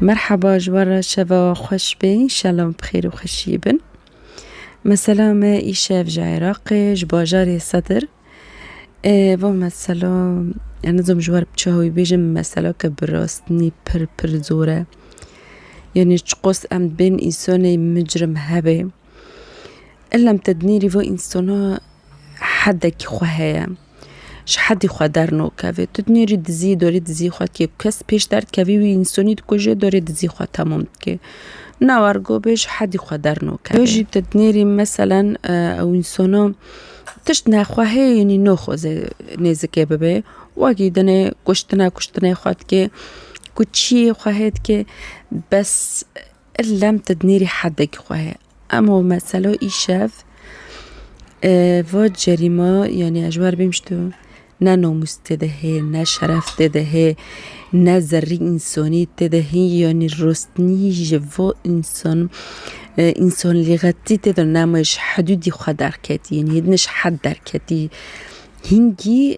Merhaba ji wan re şeva wan xweş bê înşallah em bi xêr û xweşiyê bin. Mesela me îşev ji Iraqê ji bajarê Sedir va mesela ya nizom ji wan bi çi hawî bêjim mesela ke bi rastînî pir pir zor e. Yanî çiqas em bên însanê micrim hebê illa em tedinî rî va însanan heddekî xwe heye. Ji hedî xwe dernokeve. Tu dinêrî dizî dorê dizî xwe dikê ku kes pêş derdkevî wî însanî dikuje dorê dizî xwe temam dikê. Na war go bê ji hedî xwe dernokeve. Yo jî tu dinêrî meselen ew însana tişt nexwehê yanî naxwaze nêzikê bibe wagî dinê kuştina kuştinê xwe dikê ku çiyê xwehê dikê bes lem tu dinêrî hedekî xwehê. Em o mesela îşev va cerîma yanî ez ji wan re bêm ji to ne namûs tê de hê, ne şeref tê de hê, ne zerrî însanî tê de hê yanî rostinî ji vo însan însanlîxetî tê de nema ji hedûdî xwe derketî yanî hêdine ji hed derketî hingî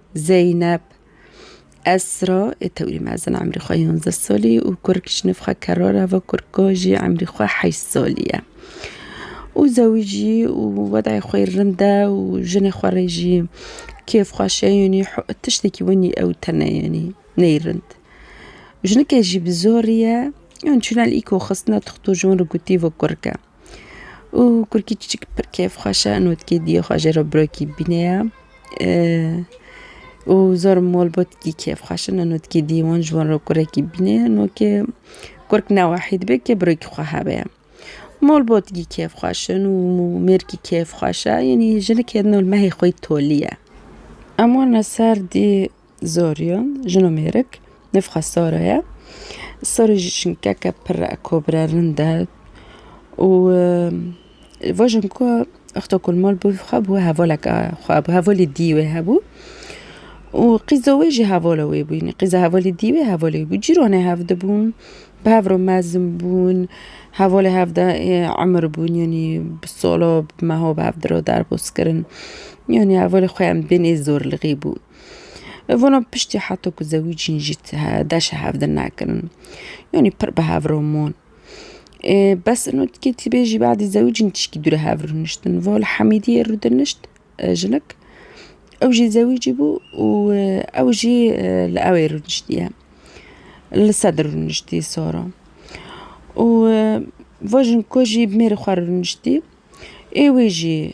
Zeynep, Esra ê tewrî mezin emrî xwe yonzdeh salî û kur kişnif xwe kero re va kur ka jî emrî xwe heşt salî ye. Û zewîjî û wedayê xwe yê rind e û jinê xwe rê jî kêf xweş e yanî tiştekî winî ew tene yanî neyê rind. Jinike jî bi zorî ye yan çûna li îko xistina tixto ji wan re gotî va kurike. Û kurkî çiçik pir kêfxweş e notkê diyê xwe jê re birokî bîne ye û zor mol botkî kêfxweş in notkê diyê wan ji wan re kurekî bîne ye nokê kurk ne wahî dibe kê birokî xwe hebe ye mol botkî kêfxweş in û mêrkî kêfxweş e yanî jinikê nol mehê xwe yî tolî ye em wan li ser dî Zorion, jino mêrik, nifxa sara ye. Sarê ji çinkeke pir re kobire rind e û vajin ku wexta ku li mal bû xwe bi wê hevaleke xwe bi hevalê dî wê hebû û qîza wê jî hevala wê bû yanî qîza hevalê dî wê hevalê wê bû cîran e hev dibûn bi hev re mezin bûn hevalê hev de emir bûn yanî bi sala bi meha bi hev re derbas kirin yanî hevalê xwe em bên ê zor li rê bû. Vana piştî heta ku zewicîn jî deşa hev di nekirin. Yanî pir bi hev re man. Bes ino dikê tî bê jî badî zewicîn tişkî dû re hev rûniştin. Va li Hemîdiyê rûdinişt jinik. Ew jî zewicî bû û ew jî li ewê rûniştiye. Li Sedr rûniştî Sara. Û va jiniko jî bi mêrê xwe re rûniştî. Ê wê jî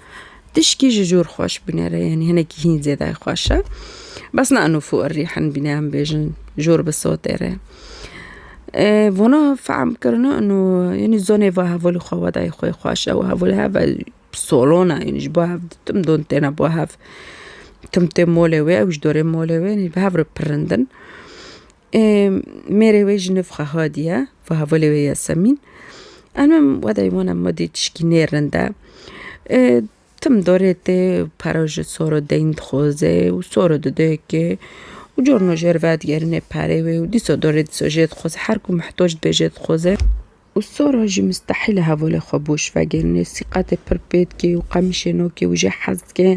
Tişkî ji jor xweş binêre yanî hinekî hîn zêde xweş e. Bes ne inu fû irî hin bîne em bêjin jor bi sotê re. Vana fehm kirina inu yanî zonê va hevalî xwe wedayê xwe xweş e û hevalî heve solon e yanî ji bo hev tim don têne bo hev. Tim tê molê wê ew ji dorê molê wê bi hev re pirindin. Mêrê wê ji nûv Xehadî ye, fahevalê wê Yasemîn. Em em wedeyê wan em wêdî tişkî nêrin de. Tim dorê tê pere ji soro deyn dixwazê û soro dide yekê û carna jê re vedigerîne perê wê û dîsa dorê dîsa jê dixwazê her ku mihtoc dibe jê dixwazê. Û sora jî mistehîl e hevalê xwe boş vegir. Nê sîqetê pir pê dikê û qemîşê nakê û jê hez dike.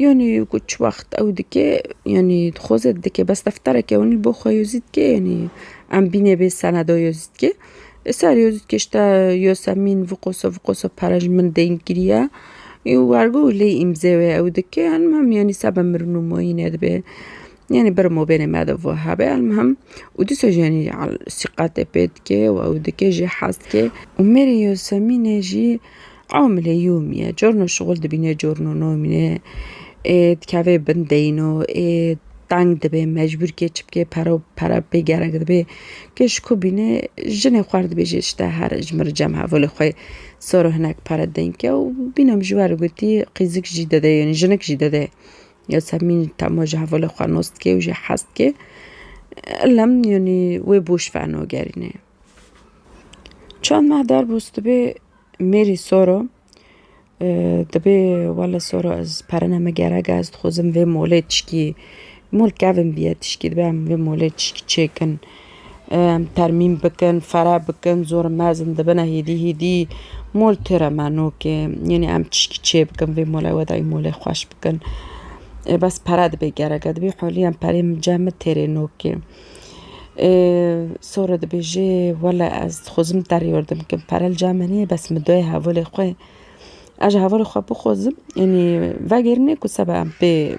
Yanî ku çi wext ew dike yanî dixwe zêde dike bes defterek e wanî li bo xwe yo zî dike yanî em bînê bê seneda yo zî dike. Li ser yo zî dike ji te Yasemîn viqoso viqoso pere ji min deng kiriye. Wergo lê îmzê wê ew dike henim hem yanî sebe mirin û mayîne dibe. Yanî bir mobênê me de vû hebê elmihim û dîsa jî yanî sîqetê pê dike û ew dike jî hez dike. Umerê Yosemînê jî amilê yomî ye. Carna şixul dibîne carna namîne. Ê dikeve bin deyno ê teng dibe mecbûr ke çi bike pere pere pê gerek dibe. Ke ji ku bîne jinê xwe dibêje îşte here ji min re cem hevalê xwe sar û hinek pere deyne ke û bîne min ji we re gotî qîzik jî dide yanî jinik jî dide. Yasemin tahma ji hevalê xwe nas dike û jê hez dike. Elem yanî wê boş feno gerîne. Çend meh derbûs dibê mêrî sora dibê wele sora ez perine me gerek e ez dixwazim vê molê tişkî mol kevin bîye tişkî dibê em vê molê tişkî çêkin. Em termîn bikin, fere bikin, zor mezin dibine hêdî hêdî. Mol tê re me nokê. Yanî em tişkî çê bikin vê mole weda wî molê xweş bikin. Ê bes pere dibê gerek e. Dibê holî em perê min cem min tê rê nokê. Ê sor dibêjê wele ez dixwazim te rê yordim bikim. Pere li cem min heye bes min dayê hevalê xwe. Ez ji hevalê xwe bixwazim yanî vegêrînê ku seba em pê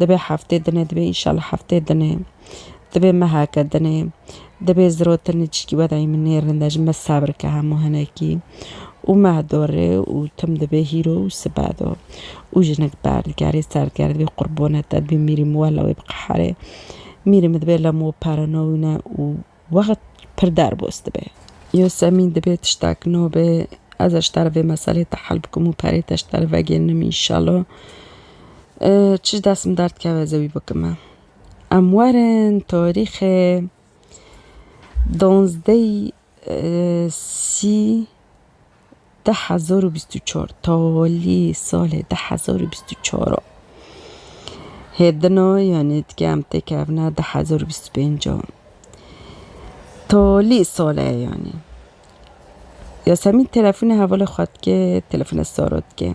Dibe heftê dinê dibe înşallah heftê dinê dibe meheke dinê dibe zirotinê çîkî weda yî min nêrin de ji me sebrike hemû hinekî û meh dorê û tim dibe hîro û sibe do û jinik berdikerê serdikerê dibê qurbone te dibê mîrî min wela wê biqeherê mîrî min dibe lemo perino wîne û Wext pir derbos dibe. Yosemîn dibe tiştek no be. Ez e ji te re vê meselê te hel bikim û perê te ji te re vegêrnim înşelo. Çi ji dest min derdikeve ez ê wî bikim e. Em werin tarîxê donzdeh sî. Di hezar û bîst û çar tawalî salê di hezar û bîst û çar a hêdina yanî dike em têkevine di hezar û bîst û pênc a tawalî sale yanî Yasemîn telefonê hevalê xwe dike telefona saro dike.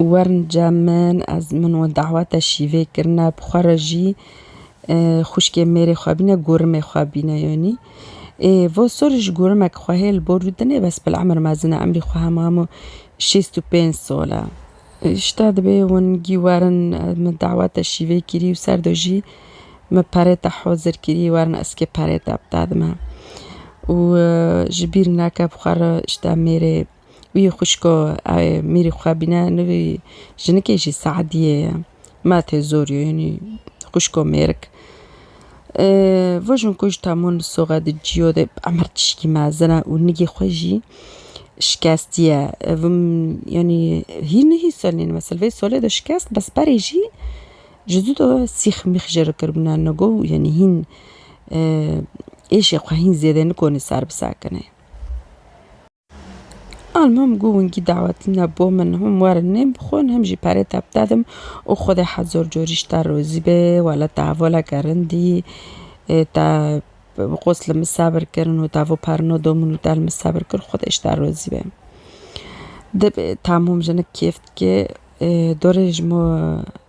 Wernca min ez min we daweta şîvê kirine bi xwe re jî xwişkê mêrê xwe bîne gorimê xwe bîne yanî ê vo sor ji gorimek xwe hê li bo rûdine bes bila emir mezin e emrî xwe hema hemû şêst û pênc sal e ji te divê hûn gî werin ez min daweta şîvê kirî û ser de jî min perê te hozir kirî werin eskê perê te bide dime û ji bîr neke bi xwe re ji te mêrê Wî xwişko ew mîrî xwe bîne nivî jinikê jî Seediyê ye. Ma tê zor yo yanî xwişko mêrik. Vir jin ku ji temûn soxe di cîyo de emir tişkî mezin e û nigê xwe jî şikestiye. Vim yanî hîn nihî selîn me silvê solê de şikest bes berê jî ji zû de sîx mîx jê re kiribûne nigo û yanî hîn êşê xwe hîn zêde nikonê ser bisekine. Al mam gu wingî dawetî ne bo min hûn werin nêm bixwin him jî perê te bidedim û Xwedê hezor corî ji te rozî be wele te hevoleke rind î te bi qos li min sebir kir û te bo perino domin û te li min sebir kir Xwedê ji te rozî be. Dibê tamûm jinik kêf dike dorê ji min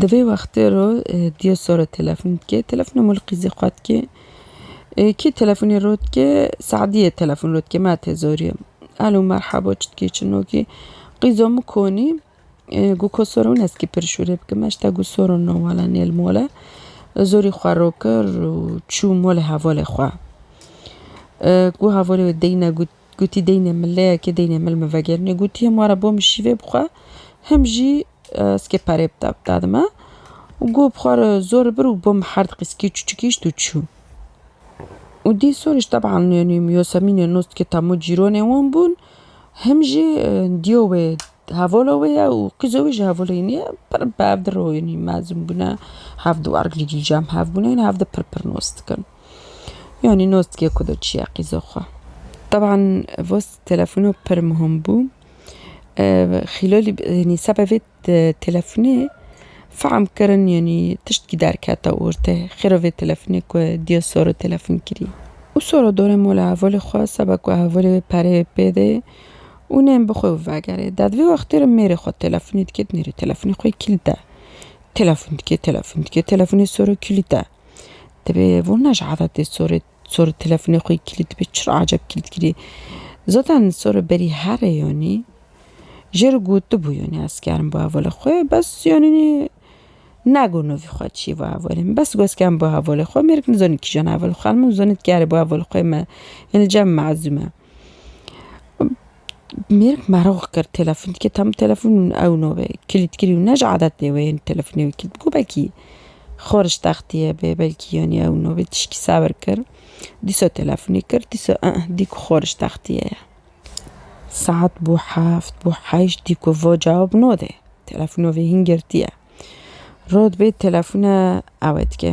Di vê wextê ro dîyo sore telefon dike. Telefonê Mulqî zî xwe dike. Kî telefonê ro dike? Se'dîye telefon ro dike. Ma tê zorî. Elo merhaba çi dikî çi nokî? Qîzo min konî gu ko sore wina zikê pirşûrê bike. Ma hişta gu sore no wala nê li mole. Zorî xwe ro kir û çû mole hevalê xwe. Gu hevalê wê deyne gu Gotî deynê min leyekê deynê mil min vegerîne gotî him were bo min şîvê bixwe him jî skê perê bide bide dime û got bixwe re zor bir û bo min her diqî skê çûçik îşt û çû û dî sorîş teban nênî yosemînê nûst ke temo cîronê wan bûn him jî dîyo wê hevola wê ye û qîza wî jî hevola wî ye pir bi hev de royênî mezin bûne hev di wargirî cî cem hev bûne hîn hev de pir pir nûst dikin. Yani nos dike ku do çiya qîzo xwe. Teban vos telefonu pir muhim bû. Xîlolî yanî seba vê telefonê fehm kirin yanî tiştkî derkete ortê. Xêro vê telefonê ku dîya sor û telefon kirî. Û sora dorê mala hevalê xwe seba ku hevalê wê pereyê pê dê û nên bi xwe vegerê. Dad vê wextê re mêrê xwe telefonê dike nêrê telefonê xwe kîlît e. Telefon dike telefon dike telefonê sor û kîlît e. Dibê vurna ji adetê sorê sorê telefonê xwê kilîd dibê çi re acep kilîd kirî. Zaten sorê berî herê yanî jê re gotibû yanî ez kerim bo hevalê xwe bes yanî negot navê xwe çî bo hevalê min bes got ez kerim bo hevalê xwe mêr nizanî kîjan hevalê xwe min zanîn dikerê bo hevalê xwe me yanî cem mezûm e. Mêrik merox kir telefon dike tam telefon ew navê kilît kirî û ne ji adet nê wê yên telefonê wê kilît bû belkî xweriş textiye bê belkî yanî ew navê tişkî sebir kir dîsa telefonê kir dîsa ih dît ku xweriş textiye ye. Saet bû heft bû heşt dît ku va cewab nade telefona vê hîn girtiye. Rewt bê telefona ewe dike.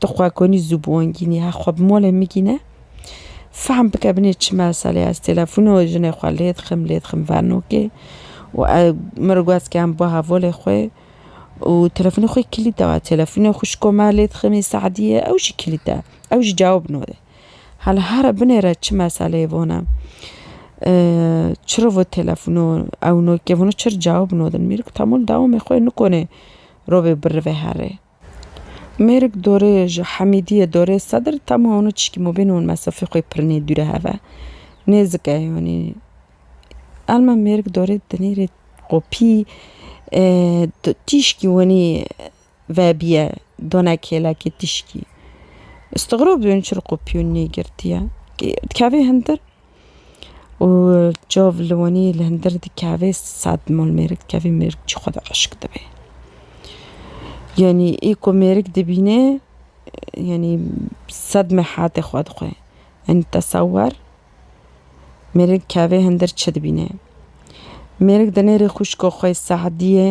Tu xwe konî zû bi wan gînî he, xwe bi malê min gîne. Fehm bike binê çi meselê ye. Ez telefona wê jinê xwe lê dixim, lê dixim vernokê û min re got ke em ba hevalê xwe û telefonê xwe kilît daye. Telefonê xwişko me lê diximî Se'diyê ew jî kilît e, ew jî cewab nade. Hela here binê re çi meseleyê vana. Çi re vot telefona ew nokê vana çi re cewab nadin. Mêr got Temol dewamê xwe nikonê rovê birivê herrê. Mêrik dorê ji Hemîdiyê dorê Sedr tema hûn û çîkî mobên hûn mesafê xwe pir nêdûre heve. Nêzik e yanî. Elma mêrik dorê dinêrê kopî tîşkî winî vebiye dona kêlekê tîşkî. Istigrob dibin çil kopî winî nêgirtiye. Dikeve hindir. û çav li wanî li hundir dikeve sed mal mêrik dikeve mêrik jî xwe de xweşik dibe yanî ê ku mêrik dibîne yanî sed mehatê xwe dixwe yanî tesewer mêrik dikeve hundir çi dibîne mêrik di nêrê xwişka xwe Sediyê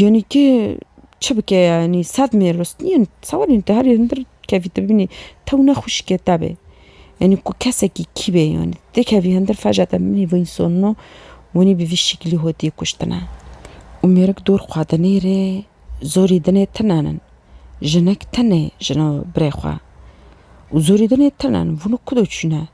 Yanî tu çi bike yanî sed mêros nîn sewerên te herî hundir kevî te bibînî tew ne xwişkê te be yanî ku kesekî kî be yanî te kevî hundir feca te bibînî vîn sonino winî bi vî şîklî hotiyê kuştine û mêrik dor xwe dinê rê zorî dinê tune nin jinik tune jina birê xwe û zorî dinê tune nin vînû ku de çûne.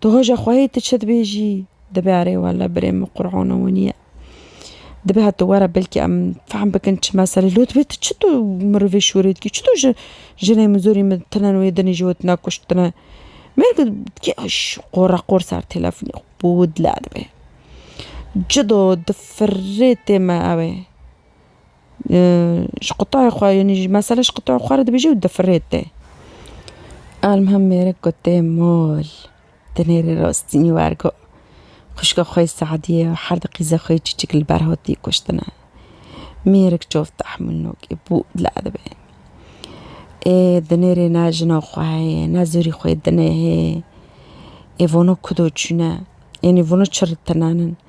Tu hoja xwehê tu çi dibêjî? Dibe erê wele birê min Qur'ana winî ye. Dibe heta were belkî em fehm bikin çi meselê. Lo dibe tu çito mirovê şûrê dikî? Çito ji jinê min zorî min tune wê dinê ji we tune kuştine? Mêrg dikê qora qor ser telefonê xwe bo dile dibe. Cido di firê tê me ew ê. Ji qutayê xwe yanî ji mesele ji qutayê xwe re dibêje û difirete. Elmam mêrik got tê mol di nêrê rastînî wergo. Xwişka xwe yê Se'dîye her di qîza xwe yê çîçik li ber hatî kuştine. Mêrik çav tehmûl nake bû li edibê. Ê di nêrê ne jina xwe heye ne zorî xwe yê dinê hê. Ê vana kudo çûne? Yanî vana çi re tinanin?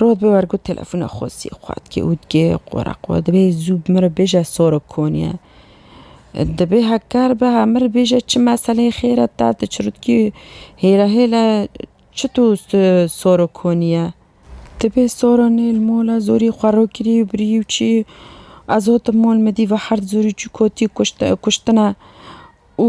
Rod bi wergo telefona Xosî xwatkê û digê qora qo dibê zû bi min re bêje soro koniye. Dibê heker be ha min re bêje çi meseleyê xêr e te di çirûtkî hêle hêle çi to soro koniye. Dibê soro nê li mola zorî xwe ro kirî û birî û çî ez hot im mol midî ve herd zorî çû kotî kuştina û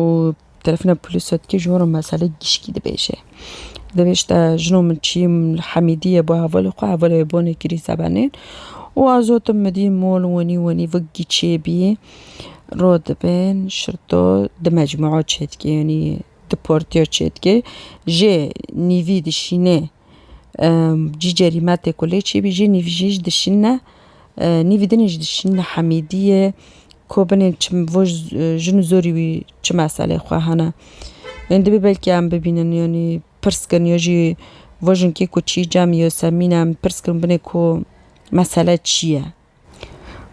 û bi telefona polîsê dike ji wan re meselê gişkî dibêje. Divê ji te jina min çi ye min li Hemîdî ye bo hevalê xwe hevalê wê bane kirî sebenên û a zotim min dî mol wenî wenî vik giçê bî rû dibin şirto di mecmûa çêdike yanî di portîya çêdike jê nîvî dişîne Cî cerîme tê ku lê çêbî jî nîv jî ji dişîne. Nîvî din jî dişîne Hemîdiyê ku binên çi bo jin û zorî wî çi meselê xwe hene. Yên dibê belkî em bibînin yanî pirs kin ya jî bo jinkê ku çî cem ya semîn em pirs kin binê ku mesele çi ye.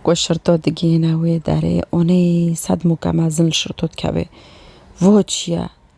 Ku şirto digihîne wê derê onê sed mûke mezin li şirto dikevê. Bo çi ye?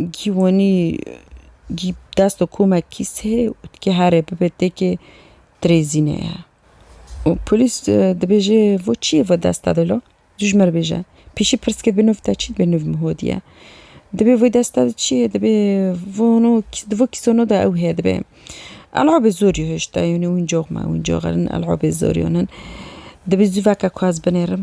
Gî wenî gî dest û komek kîs hê û dikê herê bibe têkê dirêzînê ye. Û polîs dibêje vo çiyê vo dest da dilo? Tu ji me re bêje. Pêşî pirs ke bi nûv te çi dibe nûv min hodî ye. Dibê vê dest da di çiyê dibê vo no di vo kîso no de ew heye dibê. Elabê zor jî hişta yûnî wîncox me wîncox in elabê zor yûn in. Dibê zû veke ku ez binêrim.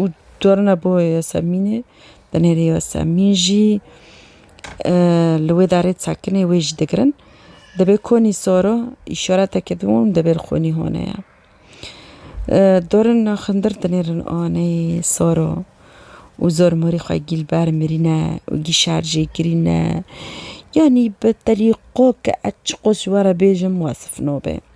û carina bo Yasemînê binêrê Yasemîn jî li wê darê sekinê wê jî digirin. Dibê konî sor o îşareteke din û dibê li xwînî hone ye. Carina xindir dinêrin aneyê sor o û zor morî xwe gîl ber mirîne û gî şer jê kirîne. Yanî bi telî qo ke ez çiqo ji we re bêjim wasif nabe.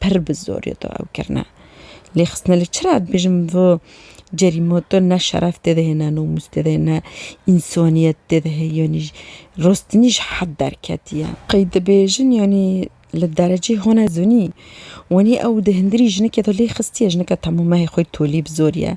Pir bi zorê to ew kirine. Lê xistine li çi re dibêjim vi cerîma to ne şeref tê de hê ne nomûs tê de hê ne însaniyet tê de hê yanî rostinî ji hed derketiye. Qey dibêjin yanî li derecê hone zonî wanî ew di hindirî jinikê de lê xistiye jinika temamehê xwe tolî bi zorî ye.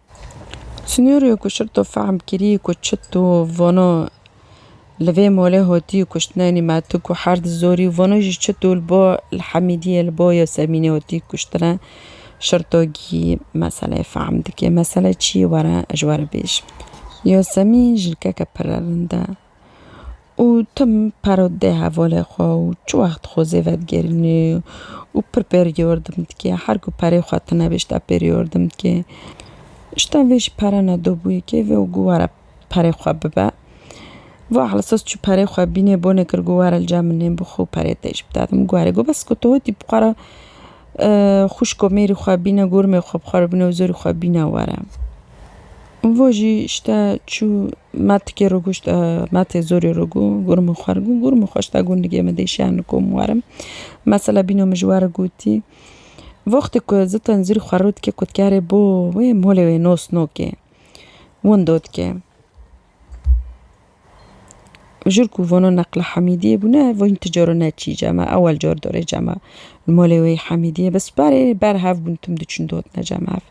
Sînaryoyê ku şirto fehm kirî ku çi tu vano li vê malê hatî kuştinenî me tu ku her di zorî vano jî çi tu li bo li Hemîdiyê li bo Yasemînê hatî kuştine şirto gî meseleyê fehm dike. Mesele çi ye were ez ji we re bêjim. Yasemîn jilkeke pire rind e. û tim paro dê hevalê xwe û çi wext xwe zê vedigerinî û pir perîyordim dikê. Her ku perê xwe tune bê şita perîyordim dikê. Şita vê jî pere ne dobûyê kê vê û gu were perê xwe bibe. Va helsas çû perê xwe bînê bonê kir gu were li cem min nê bixwe û perê tê jî bide. Dim gu were gu bes ku tu hotî bi xwe re xwişk û mêrî xwe bîne gormê xwe bi xwe re bîne û zorî xwe bîne were. Va jî şita çû. Ma tikê rûgûşt e, ma tê zorê rûgû, gûr min xwer gû, gûr min xweş da gundikê min dê şiya niko min werim. Mesela bîno min ji we re gotî, Voxtê ku zi tenzîr xwerû dikê kotkarê bo wê molê wê nos nokê, windo dikê. Jûr ku vono neqla Hemîdiyê bûne vîn ti caro ne çî cama ewel car dorê cama molê wê Hemîdiyê bi sperê ber hev bûn tim diçûn dotne cama ev.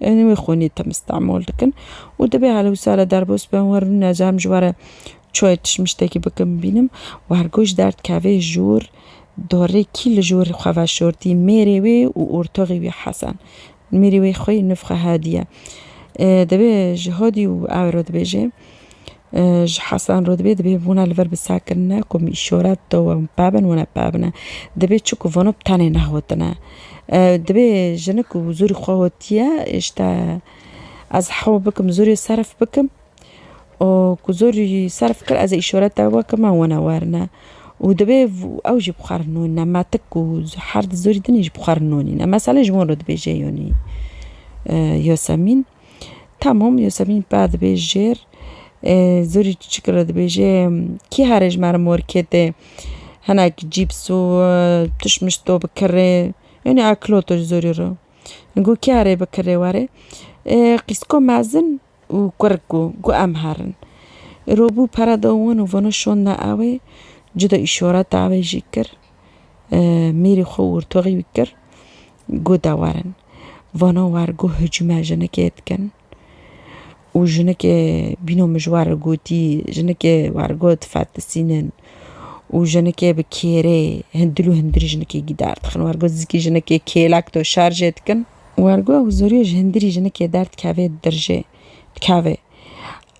Em wê xwînê tim Stenbol dikin û divê hale wisa re derbos bibin wan rûne ca em ji we re çayê tişmiştekî bikin bibînim û her ku ji derdkevê jûr dorê kî li jûr xwe veşortî mêrê wê û ortoxî wî Hesen. Mêrê wê xwî nifxe Hadiye. Divê ji Hadî û ew re dibêjê. Ji Hesan re dibê dibê vona li vir bi sar kirine ku min îşora dide wan pa bin wan pa bine. Dibê çi ku vano bi tenê nehotine. Dibê jinik ku zorî xwe hotiye îşte ez hewl bikim zorê serf bikim û ku zorî serf kir ez ê îşora te we kime wana werine û dibê ew jî bi xwe re nûnine me tik ku her di zorî din jî bi xwe re nûnîne. Meselê ji wan re dibêje Yonî Yasemîn. Tamam Yosemîn per dibê jêr ê zûrî çiçik re dibêje kî herê ji me re mor kêtê hinek cîps û tişt mişt to bi kirê yanî akloto ji zûrî re got kî herê bi kirê were ê qîsko mezin û kurik bû got em herin rûbû pere da wan û vana şonda ewê cida îşareta ewê jî kir. mêrê xwe wurtoxî kir got de werin. Vana wer got hicûme jinikê dikin û jinikê bîno mijwar li gotî jinikê wer got fetisînin û jinikê bi kêrê hundir û hundirî jinikê gîdar dixin wer got zikê jinikê kêlek to şerjê dikin. Wer got ew zorî ji hundirî jinikê derdikevê dirjê dikevê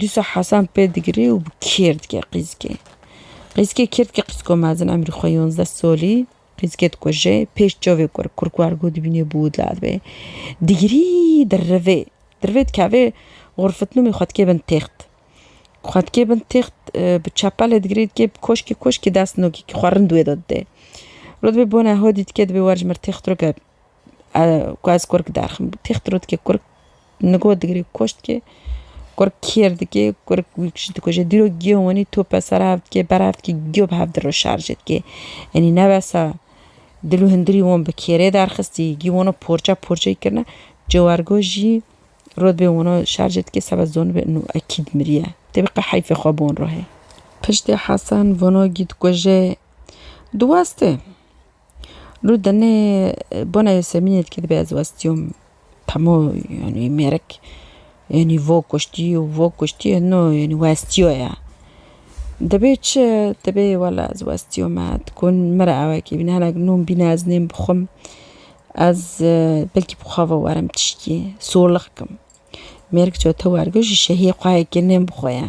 Dîsa Hesen pê digirê û bi kêr dike qîzikê. Qîzikê kêr dike qîziko mezin emrî xwe yonzdeh solî qîzikê dikuje. Pêş çavê kur kurk wergo dibînê bi wûd la dibe. Digirî di rivê di rivê dikeve xurfitnûmê xwe dike bin têxt. Xwe dike bin têxt bi çepelê digirê dike bi koşkê koşkê dest nokê xwe rind wê de dide. Rûdibê bona hodî dike dibê wer ji mir têxt rike. Ku ez kurk diaxivim têx diro dike kurk nigo digire koç dike kurk kêr dike kurk wî kişî dikuje dîrok giyo wenî top be ser hev dike ber hev dike giyo bi hev diro şarje dike enî ne wesa dil û hundirî wan bi kêrê derxistî gî wan porça porçe kirine ciwargo jî rotbê wan şarje dike seba zonibê û ekîd miriye tê bi qe heyfê xwe bi wan re heye. Piştê Hesen vano gî dikuje diweste. Rû denê bona Yasemînê dike dibe ez westiyom hemû yanî mêrik yanî vo kuştî û vo kuştî no yanî westiyo ya. Dibê çi dibê wela ez westiyo me diku min re ewekê bîne hinek nûn bîne ez nêm bixwim ez belkî bi xwe ve werim tiştî solix kim mêrik çawa te wergo ji şehî xwe yekê nêm bixwe ye.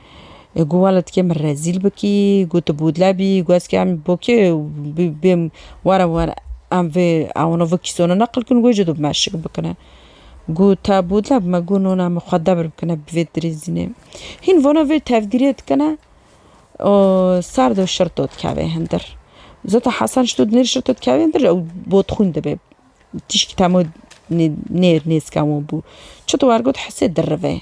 Got wela tu kê min rezîl bikî, got tu bûdle bî, got ez kê em bo kê bêm were were em vê ewano vê kîsona neqil kin û got ji do bime şik bikine. Got te bûdle bime, got nona min xwe debir bikine bi vê dirêzînê. Hîn vana vê tevdîrê dikine û ser do şir do dikeve hindir. Zeta Hesen ji to dinêr şir to dikeve hindir ew botxwîn dibe. Tîşkî temo nê nêzken wan bû. Çito wer got Hisê dirive.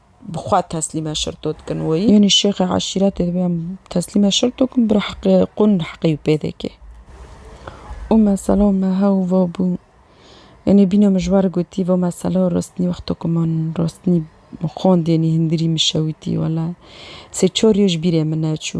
bi xwe teslîme şirto dikin wê. Yanî şêxê eşîretê dibe em teslîme şirto kin bi heqê qûn heqê wî pêdeke. Û mesela me hew va bû yanî bîne min ji we re gotî va mesela rostinî wexto ku min rostinî xwendê yanî hindirî min şewitî wele sê çar roj bîrê min neçû.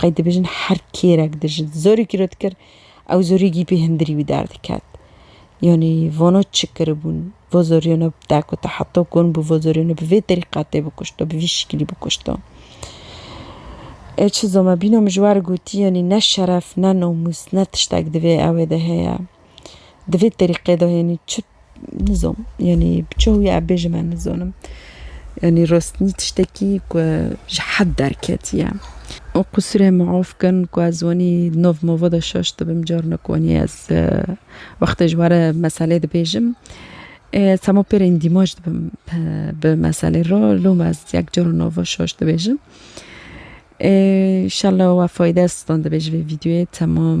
Qey dibêjin her kêrek di ji zorî kîro dikir ew zorî gî pê hindirî wî derdiket. Yanî vano çi kiribûn vo zorîyo ne bi te kute heta kon bû vo zorîyo ne bi vê terîqet tê bikuşto bi vî şikilî bikuşto. Ê çi zomebîno min ji we re gotî yanî ne şeref ne namûs ne tiştek di vê ewê de heye. Di vê terîqê de yanî çi nizom yanî bi çi hûyê ev bêjim em nizonim. Yanî rastî tiştekî ku ji hed derketiye. Û qûsurê min of kin ku ez wanî nov mova de şaş dibim carna ku wanî ez wextê ji were meselê dibêjim. Sema pê re îndîmaj dibim bi meselê re loma ez yek cara nova şaş dibêjim. Îşallah we fayde sitan dibe ji vê vîdyoyê temam